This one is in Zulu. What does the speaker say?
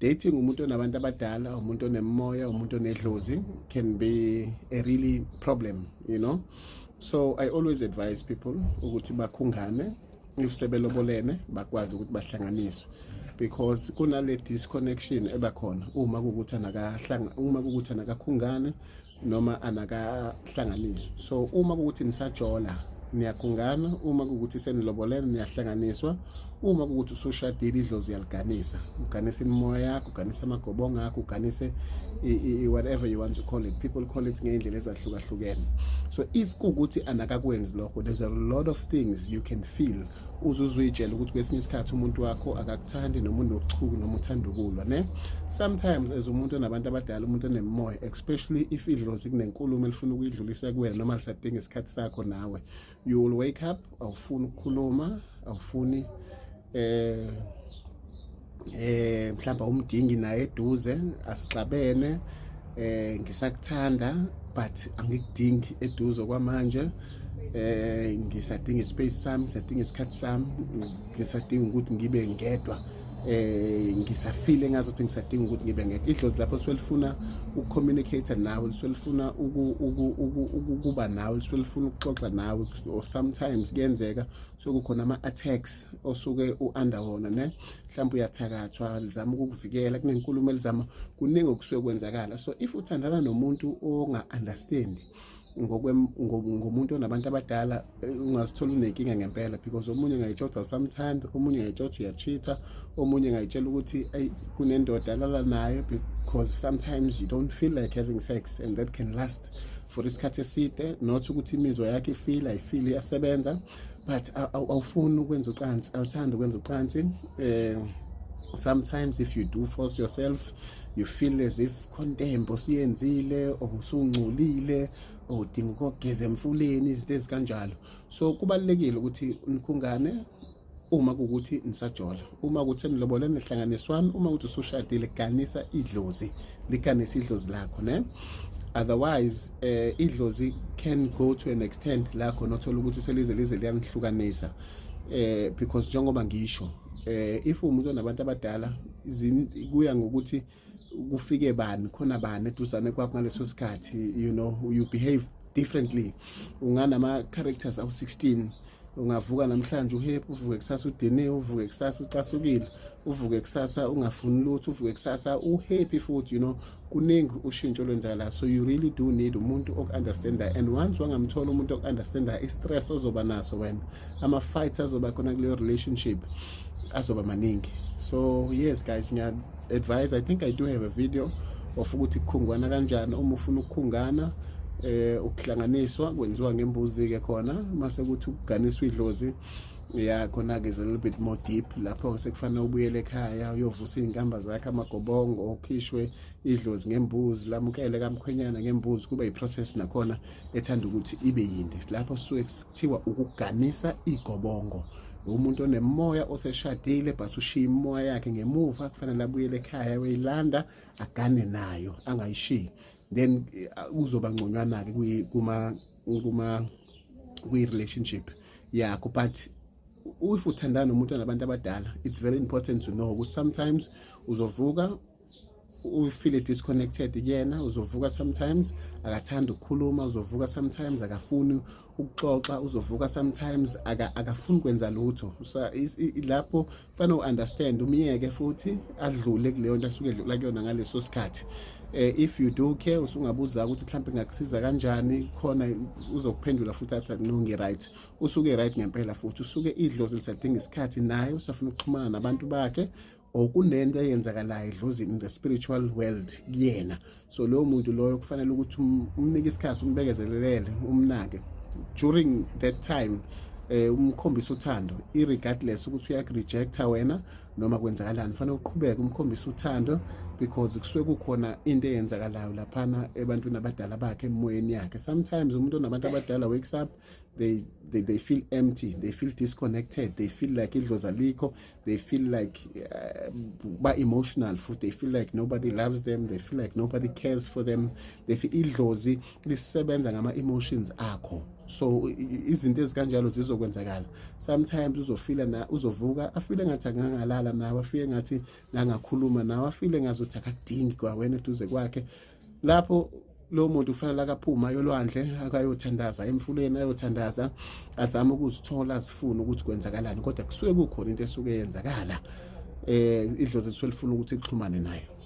dating umuntu onabantu abadala umuntu onemoya umuntu onedlozi can be a really problem you know so i always advise people ukuthi bakhungane if sebelobolene bakwazi ukuthi bahlanganiswe because kunale disconnection ebakhona uma kukuthi anakahlanga uma kukuthi anakakhungane noma anakahlanganiswa so uma kukuthi nisajola niyagungana uma kukuthi senilobolene niyahlanganiswa uma kukuthi usushadile idlozi uyaliganisa uganise imimoya yakho uganise amagobongo akho uganise whatever you want to call it people call it ngey'ndlela ezahlukahlukene so if kuwukuthi anakakwenzi lokho there's a lot of things you can feel uzuzuyitshela ukuthi kwesinye isikhathi umuntu wakho akakuthandi noma unochuku noma uthanda ukulwa ne sometimes as umuntu onabantu abadala umuntu onemimoya especially if idlozi kunenkulumo elifuna ukuyidlulisa kuwena noma lisadinga isikhathi sakho nawe you will wake up awufuni ukukhuluma awufuni eh eh mhlawumbe umdingi naye eduze asixabene eh ngisakuthanda but angikudingi eduze kwamanje eh ngisadinga space sami ngisadinga isikhathi sami ngisadinga ukuthi ngibe ngedwa eh ngisafile ngazothi ngisadinga ukuthi ngibe ngedwa idlozi lapho selifuna ukucommunicate nawe liselifuna ukuba nawe liselifuna ukuxoxa nawe or sometimes kuyenzeka sokukhona ama attacks osuke uanda wona ne mhlawumbe uyathakathwa lizama ukukuvikela kunenkulumo elizama kuningi okusuke kwenzakala so if uthandana nomuntu onga understand ngomuntu onabantu abadala eh, ungazithola unenkinga ngempela because omunye ngayitshoda usamthanda omunye ngayitshoda uyachitha omunye ngayitshela ukuthi ayi kunendoda alala nayo because sometimes you don't feel like having sex and that can last for isikhathi eside not ukuthi imizwa yakhe ifile ayifile iyasebenza but awufuni ukwenza ucansi awuthandi ukwenza ucansi um sometimes if you do force yourself you feel as if khonto embi osiyenzile or usungcolile or udinga ukogeza emfuleni izinto ezikanjalo so kubalulekile ukuthi nikhungane uma kukuthi nisajola uma ukuthi enilobole nihlanganiswani uma ukuthi usushadile ganisa idlozi liganisa idlozi lakho ne otherwise eh idlozi can go to an extent la khona othola ukuthi selize lize liyanihlukanisa eh because njengoba ngisho eh if umuntu onabantu abadala kuya ngokuthi kufike bani khona bani eduzane kwakho ngaleso sikhathi you know you behave differently unganama characters awu 16 ungavuka namhlanje uhep uvuke kusasa udiniwe uvuke kusasa ucasukile uvuke kusasa ungafuni lutho uvuke kusasa uhappy futhi you know kuningi ushintsho olwenzakala so you really do need umuntu oku-understanda and once wangamthola umuntu oku-understanda i-stress ozoba naso wena ama-fights azoba khona kuleyo relationship azoba maningi so yes guys advise i think i do have a video of ukuthi kukhungwana kanjani uma ufuna ukukhungana eh ukuhlanganiswa kwenziwa ngembuzi ke khona mase ukuthi ukuganiswa idlozi ya khona ke is a little bit more deep lapho sekufanele ubuyele ekhaya uyovusa izinkamba zakhe amagobongo okhishwe idlozi ngembuzi lamukele kamkhwenyana ngembuzi kuba iprocess nakhona ethanda ukuthi ibe yinde lapho suke kuthiwa ukuganisa igobongo umuntu onemoya oseshadile but ushiya imoya yakhe ngemuva kufanele abuyele ekhaya uyilanda agane nayo angayishiyi then eh, uzoba ngconywana-ke kuma kuma kwi-relationship yakho but if uthandana nomuntu nabantu abadala it's very important to know ukuthi sometimes uzovuka ufile disconnected kuyena uzovuka sometimes akathanda ukukhuluma uzovuka sometimes akafuni ukuxoxa uzovuka sometimes akafuni kwenza lutho lapho kufanele u-understand umyeke futhi adlule kuleyo nto asuke edlula kuyona ngaleso sikhathi eh, if you do care usungabuza ukuthi mhlawumbe ngakusiza kanjani khona uzokuphendula futhi athi no ngi-right usuke right ngempela futhi usuke idlozi lisadinga isikhathi naye usafuna ukuxhumana nabantu bakhe or kunento eyenzakalayo edlozi in the spiritual world kuyena so loyo muntu loyo kufanele ukuthi um, umnike isikhathi umbekezelelele umnake during that time eh umkhombisa uthando irregardless ukuthi uyakurejecta wena noma kwenzakalani fanele uqhubeke umkhombisa uthando because kusuke kukhona into eyenzakalayo laphana ebantwini abadala bakhe emoyeni yakhe sometimes umuntu onabantu abadala wakes up they, they, they feel empty they feel disconnected they feel like idlozi alikho they feel like uh, ba emotional futhi they feel like nobody loves them they feel like nobody cares for them they feel idlozi lisebenza ngama emotions akho so izinto ezikanjalo zizokwenzakala sometimes uzofila na uzovuka afile ngathi akangalala nawe afike ngathi ngangakhuluma nawe afile ngazothi akadingi kwawena eduze kwakhe lapho lo muntu kufanele akaphuma yolwandle akayothandaza emfuleni ayothandaza azame ukuzithola azifune ukuthi kwenzakalani kodwa kusuke kukhona into esuke yenzakala eh idlozi lisuke lifuna ukuthi lixhumane nayo